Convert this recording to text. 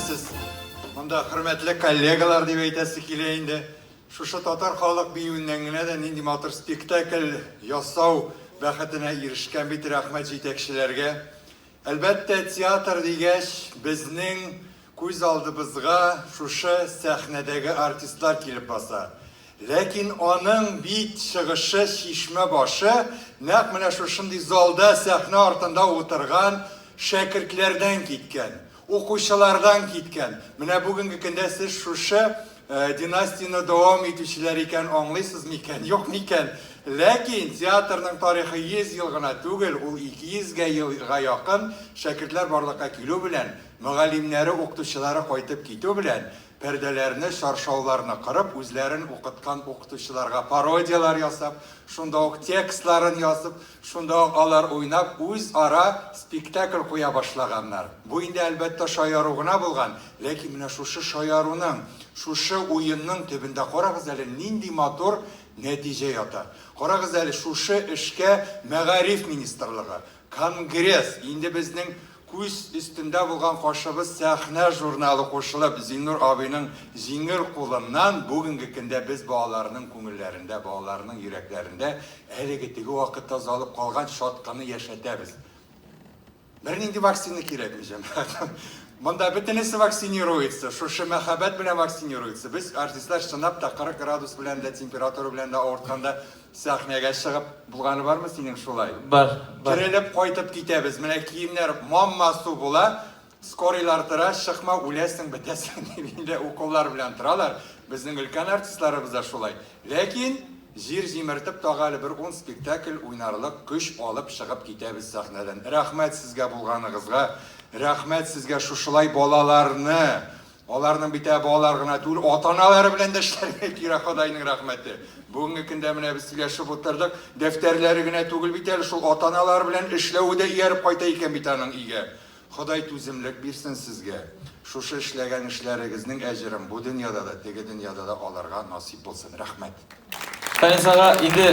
Сез монда хөрмәтле коллегалар дип әйтәсе килә инде. Шушы татар халык биюеннән генә дә нинди матур спектакль ясау бәхетенә ирешкән бит, рәхмәт җитәкчеләргә. Әлбәттә, театр дигәч, безнең күз алдыбызга шушы сәхнәдәге артистлар килеп баса. Ләкин аның бит чыгышы, чишмә башы нәкъ менә шушындый залда, сәхнә артында утырган шәкертләрдән киткән. Укучылардан киткән. Менә бүгенге көндә сез шушы династияне дәвам итүчеләр икән аңлыйсыз микән, юк микән? Ләкин театрның тарихы 100 ел гына түгел, ул 200 гә елга якын. Шәкертләр барлыкка килү белән, мөгаллимнәре, укытучылары кайтып китү белән, пәрдәләрне, чаршауларны кырып, үзләрен укыткан укытучыларга пародияләр ясап, шунда ук текстларын язып, Шунда ук алар уйнап үз-ара спектакль куя башлаганнар. Бу инде, әлбәттә, шаяру гына булган, ләкин менә шушы шаяруның, шушы уенның төбендә карагыз әле, нинди матур нәтиҗә ята. Карагыз әле, шушы эшкә мәгариф министрлыгы, конгресс, инде безнең Күз өстендә булган кашыбыз сәхнә журналы кушылып, Зиннур абыйның җиңел кулыннан бүгенге көндә без балаларның күңелләрендә, балаларның йөрәкләрендә әлеге теге вакытта озалып калган чаткыны яшәтәбез. Бернинди вакцина кирәкми, җәмәгать. Монда бөтенесе вакцинируется, шушы мәхәббәт белән вакцинируется. Без, артистлар, чынлап та 40 градус белән дә, температура белән дә авыртканда, Сәхнәгә чыгып булганы бармы синең шулай? Бар, бар. Терелеп кайтып китәбез, менә киемнәр мам-масу була, скорыйлар тора, чыкма, үләсең, бетәсең дип инде уколлар белән торалар. Безнең өлкән артистларыбыз да шулай. Ләкин җир җимертеп тагы әле бер ун спектакль уйнарлык көч алып чыгып китәбез сәхнәдән. Рәхмәт сезгә булганыгызга, рәхмәт сезгә шушылай балаларны Аларның бит ә балалар гына түгел, ата-аналары белән дә эшләргә кирәк, Ходайның рәхмәте. Бүгенге көндә менә без сөйләшеп утырдык, дәфтәрләре генә түгел бит әле шул, ата-аналары белән эшләве дә ияреп кайта икән бит аның өйгә. Ходай түземлек бирсен сезгә. Шушы эшләгән эшләрегезнең әҗерен бу дөньяда да, теге дөньяда да алырга насыйп булсын. Рәхмәт. Фәнис ага, инде